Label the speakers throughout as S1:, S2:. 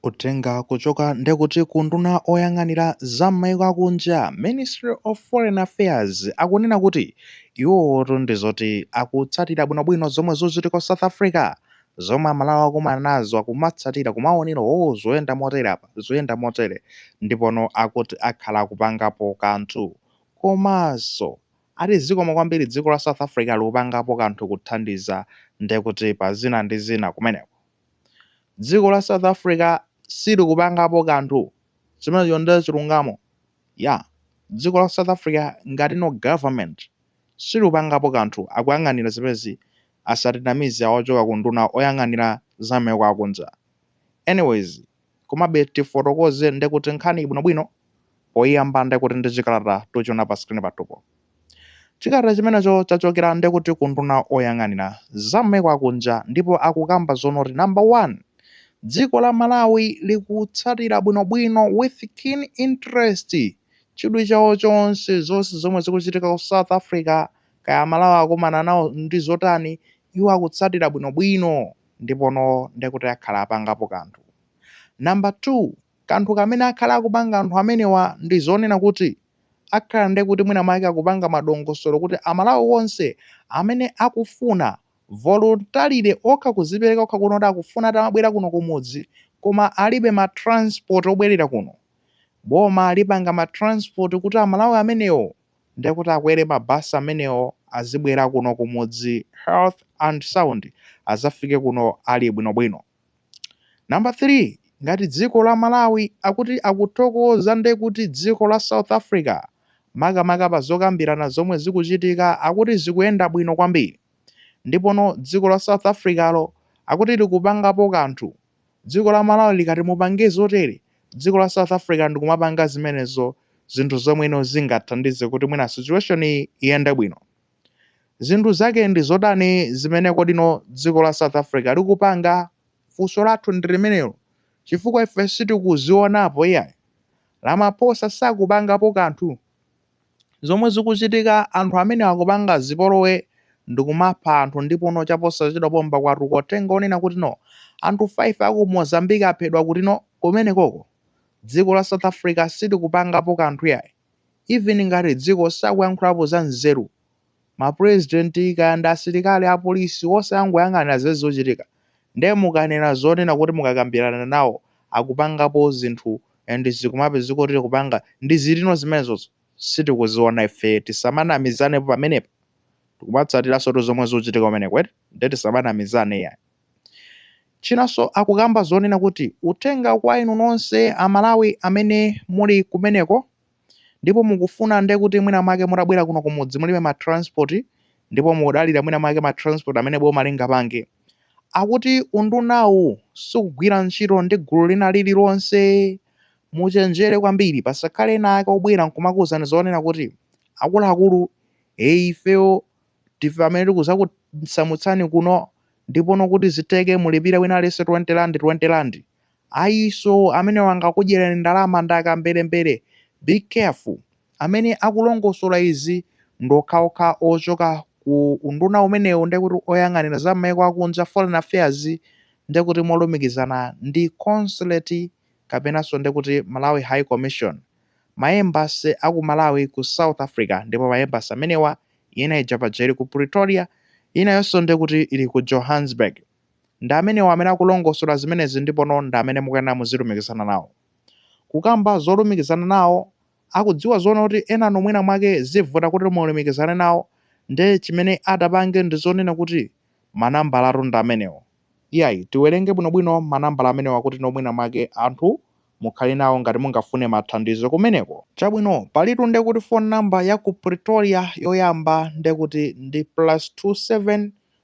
S1: Uthenga kuchoka nde kuti ku nduna oyang'anira za mmaiko akunja, Ministry of Foreign Affairs, akunena kuti iwowotu ndi zoti akutsatira bwinobwino zomwe zikuchitika ku South Africa, zomwe amalawi akukumana nazo akumatsatira kumaonera ooh zuyenda motere apa, zuyenda motere ndipono akuti akhala akupangapo kanthu komanso ati zikomo kwambiri dziko la South Africa likupangapo kanthu kuthandiza nde kuti pa zina ndi zina kumeneko. Dziko la South Africa silikupangapo kanthu. Chimenecho ndiye chilungamo. Ya. Dziko la South Africa ngati no government silikupangapo kanthu akuyang'anira zimenezi asatinamize awochoka kunduna oyang'anira za mmaiko akunja. Anyways, Komabe tifotokoze ndekuti nkhaniyi bwinobwino poyiyamba ndekuti ndi chikalata tikuchiona pa screen pathupo. Chikalata chimenecho chachokera ndekuti ku nduna oyang'anira za mmaiko akunja ndipo akukamba zonoti number one dziko la Malawi likutsatira bwinobwino with keen interest chidwi chawo chonse zonse zomwe zikuchitika ku South Africa kaya amalawi akumana nawo ndi zotani iwo akutsatira bwinobwino ndipono ndekuti akhala apangapo kanthu. Number two, kanthu kamene akhala akupanga anthu amenewa ndi zonena kuti akhala ndekuti mwina mwake akupanga madongosolo kuti amalawi onse amene akufuna voluntarily okha kuzipereka okha kuno kuti akufuna atamabwera kuno kumudzi koma alibe ma transport obwerera kuno boma lipanga ma transport kuti amalawi amenewo Nde kuti akwere ma bus amenewo azibwera kuno kumudzi health and sound azafike kuno ali bwino bwino. Number 3 ngati dziko la Malawi akuti akuthokoza nde kuti dziko la South Africa makamaka pa zokambirana zomwe zikuchitika akuti zikuyenda bwino kwambiri. Ndipono dziko la South Africalo akuti likupangapo kanthu Dziko la Malawi likati mupange zotere, dziko la South Africa ndikumapanga zimenezo zinthu zomwe you know zingathandize kuti mwina situation yi iyende bwino. Zinthu zake ndi zotani zimene kodi you know dziko la South Africa likupanga? Funso lathu ndi limenelo chifukwa ife sitikuzionapo iyayi. Ramaphosa sakupangapo kanthu. Zomwe zikuchitika anthu amenewa akupanga zipolowe ndikumapha anthu ndipono chaposachedwa pompa kwatuluka uthenga onena kuti no anthu 5 aku Mozambique aphedwa kuti no kumenekoko dziko la South Africa silikupangapo kanthu iyayi even ngati dziko sakuyankhulapo za nzeru ma president kaya ndi asilikali, apolisi onse angoyang'anira zimene zikuchitika nde mukanena zonena kuti mukakambirana nawo akupangapo zinthu and zikumapezeka kuti tikupanga ndi zilino zimenezozo sitikuziona ife tisamanamizanepo pamenepa tikumatsatiransotu zomwe zikuchitika kumeneko nde tisamanamizane iyayi. Chinanso akukamba zonena kuti uthenga kwa inu nonse amalawi amene muli kumeneko, ndipo mukufuna nde kuti mwina mwake mutabwera kuno kumudzi mulibe ma transport ndipo mukudalira mwina mwake ma transport amene boma lingapange akuti undunawu sikugwira ntchito ndi gulu lina lililonse muchenjere kwambiri pasakhale ena ake obwera nkumakuwuzani zonena kuti akuluakulu e ifeyo tife amene tikuzakusamutsani kuno ndipono kuti zitheke mulipire wina aliyense 20 rand 20 rand Ayiso amenewo angakudyereni ndalama ndi akamberembere be careful. Amene akulongosola izi ndi okhaokha ochoka ku unduna umenewu ndekuti oyang'anira za m'maiko akunja, foreign affairs, ndekuti molumikizana ndi consulate kapenanso ndekuti Malawi High Commission. Ma embassy a ku Malawi ku South Africa ndipo ma embassy amenewa ina ija paja ili ku Pretoria inayonso ndekuti ili ku Johannesburg. Ndi amenewa amene akulongosola zimenezi ndipono ndi amene mukuyenera muzilumikizana nawo. Kukamba zolumikizana nawo, akudziwa zoona kuti enanu mwina mwake zivuta kuti mulumikizane nawo nde chimene adapanga ndi zonena kuti manambalatu ndi amenewo. Iyayi, tiwerenge bwinobwino manambala amenewa kutino mwina mwake anthu mukhale nawo ngati mungafune mathandizo kumeneko. Chabwino, palitu nde kuti phone number ya ku Pretoria yoyamba nde kuti ndi plus two seven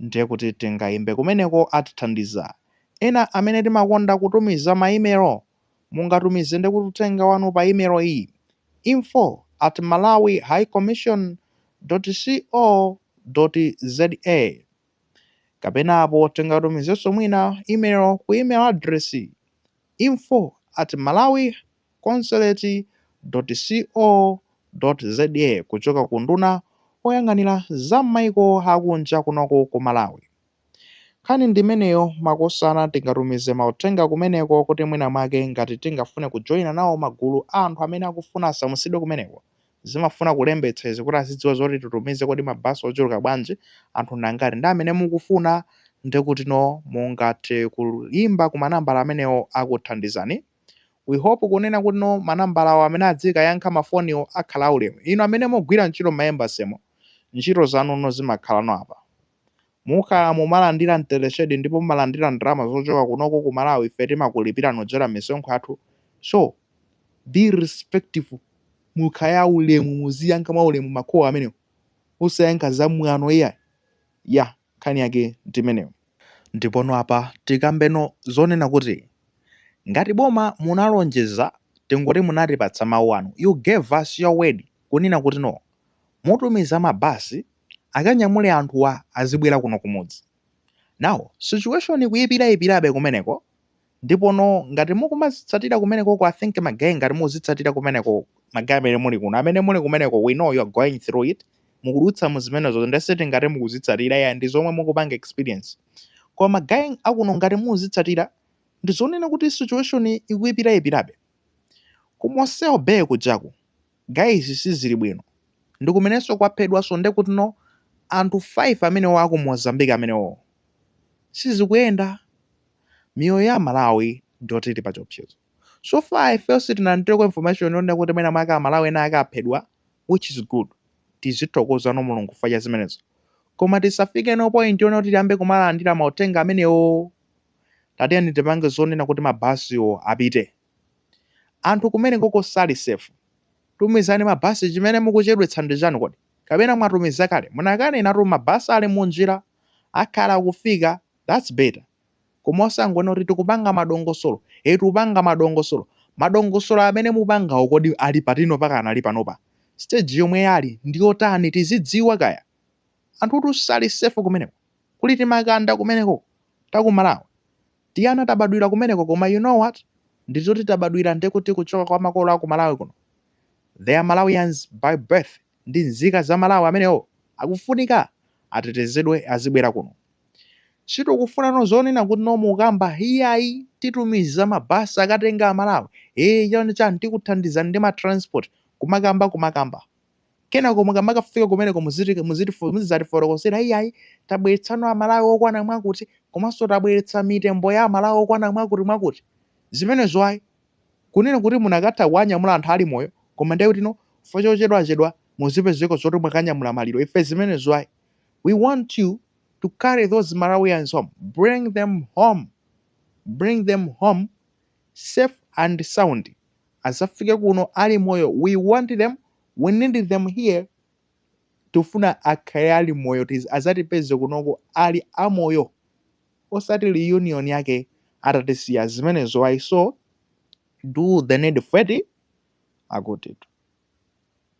S1: Ndiye kuti tingaimbe kumeneko atithandiza. Ena amene timakonda kutumiza ma email, mungatumize ndi kuti uthenga wanu pa email iyi, info at malawi high commission dot co dot za Kapena apo tingatumizenso mwina email ku email address iyi, info at malawiconsulate.co.za kuchoka ku unduna woyang'anira za mmaiko akunja kunoko ku malawi. Nkhani ndimeneyo makosana tingatumize mauthenga kumeneko kuti mwina mwake ngati tingafune kujoina nawo magulu a anthu amene akufuna asamutsidwe kumeneko zimafuna kulembetsa izi kuti azidziwa zoti titumize kodi ma bus ochuluka bwanji anthu ndangati ndi amene mukufuna ndekutino mungathe kuyimba ku manambala amenewo akuthandizani we hope kunena kutino manambalawo amene adzikayankha ma foniwo akhala aulemu inu amene mugwira ntchito mma embassy mo ntchito zanu no zimakhalano apa Mukhala mumalandira mteleshedi ndipo mumalandira ndalama zochoka kunoko ku Malawi ife timakulipirani kudzera mmisonkho yathu so be respectful mukhale aulemu muziyankha mwaulemu makolo amenewo osayankha zamwano iyayi yah nkhani yake ndimeneyo. Ndipono apa tikambeno zonena kuti ngati boma munalonjeza tingoti munatipatsa mau anu you gave us your word kunena kuti no mutumiza ma bus akanyamule anthuwa azibwera kuno kumudzi. Now situation ikuipiraipirabe kumeneko ndipono ngati mukumazitsatira kumenekoko I think ma guy ngati mukuzitsatira kumeneko ma guy amene muli kuno amene muli kumeneko we know you are going through it mukudutsa mu zimenezo nde sitingati mukuzitsatira ya ndi zomwe mukupanga experience koma ma guy akuno ngati mukuzitsatira ndizonena kuti situation ikuipiraipirabe ku Mossel Bay kujaku Guys sizili bwino ndikumeneso kwaphedwaso nde kutino anthu 5 amenewo aku Mozambique amenewowo sizikuyenda miyoyo ya amalawi ndiyoti ili pachiopsezo so far ifeyo sitinalandireko information yonena kuti mwina mwake amalawi ena ake aphedwa which is good tizithokozano mulungu chifukwa cha zimenezo koma tisafikeno point yonena kuti tiyambe kumalandira mauthenga amenewo tatiyeni tipange zonena kuti mabasiwo apite Anthu kumenekoko sali safe. Tumizani ma bus chimene mukuchedwetsa ndi chani kodi? Kapena mwatumiza kale? Munakanena kuti ma bus ali munjira akhala akufika that's better. Koma osangonena kuti tikupanga madongosolo tikupanga madongosolo madongosolo amene mupangawo kodi ali pati no pakanali panopa? Stage yomwe ali ndiyotani tizidziwa kaya. Anthutu sali safe kumeneko kuli timakanda kumenekoko taku Malawi. Tiana tabadwira kumeneko koma you know what ndizoti tabadwira ndekuti kuchoka kwa makolo aku Malawi kuno they are Malawians by birth ndi nzika za Malawi amenewo akufunika atetezedwe azibwera kuno sitikufunano zonena kuti no mukamba iyayi titumiza ma bus akatenga a Malawi ee chani chani tikuthandizani ndi ma transport kumakamba kumakamba Kenako mukamakafika kumeneko muziti muzizatifotokozera iyayi tabweretsano a Malawi okwana mwakuti komanso tabweretsa mitembo ya a Malawi okwana mwakuti mwakuti. Zimenezo ayi. Kunena kuti munakatha kuwanyamula anthu ali moyo koma ndiye kutino chifukwa chochedwachedwa muzipezeko zoti mwakanyamula maliro ife zimenezo ayi. We want you to carry those Malawians home. Bring them home. Bring them home. safe and sound azafike kuno ali moyo we want them we need them here tikufuna akhale ali moyo azatipeze kunoko ali amoyo osati reunion yake atatisiya zimenezo ayi so do the needful eti akuti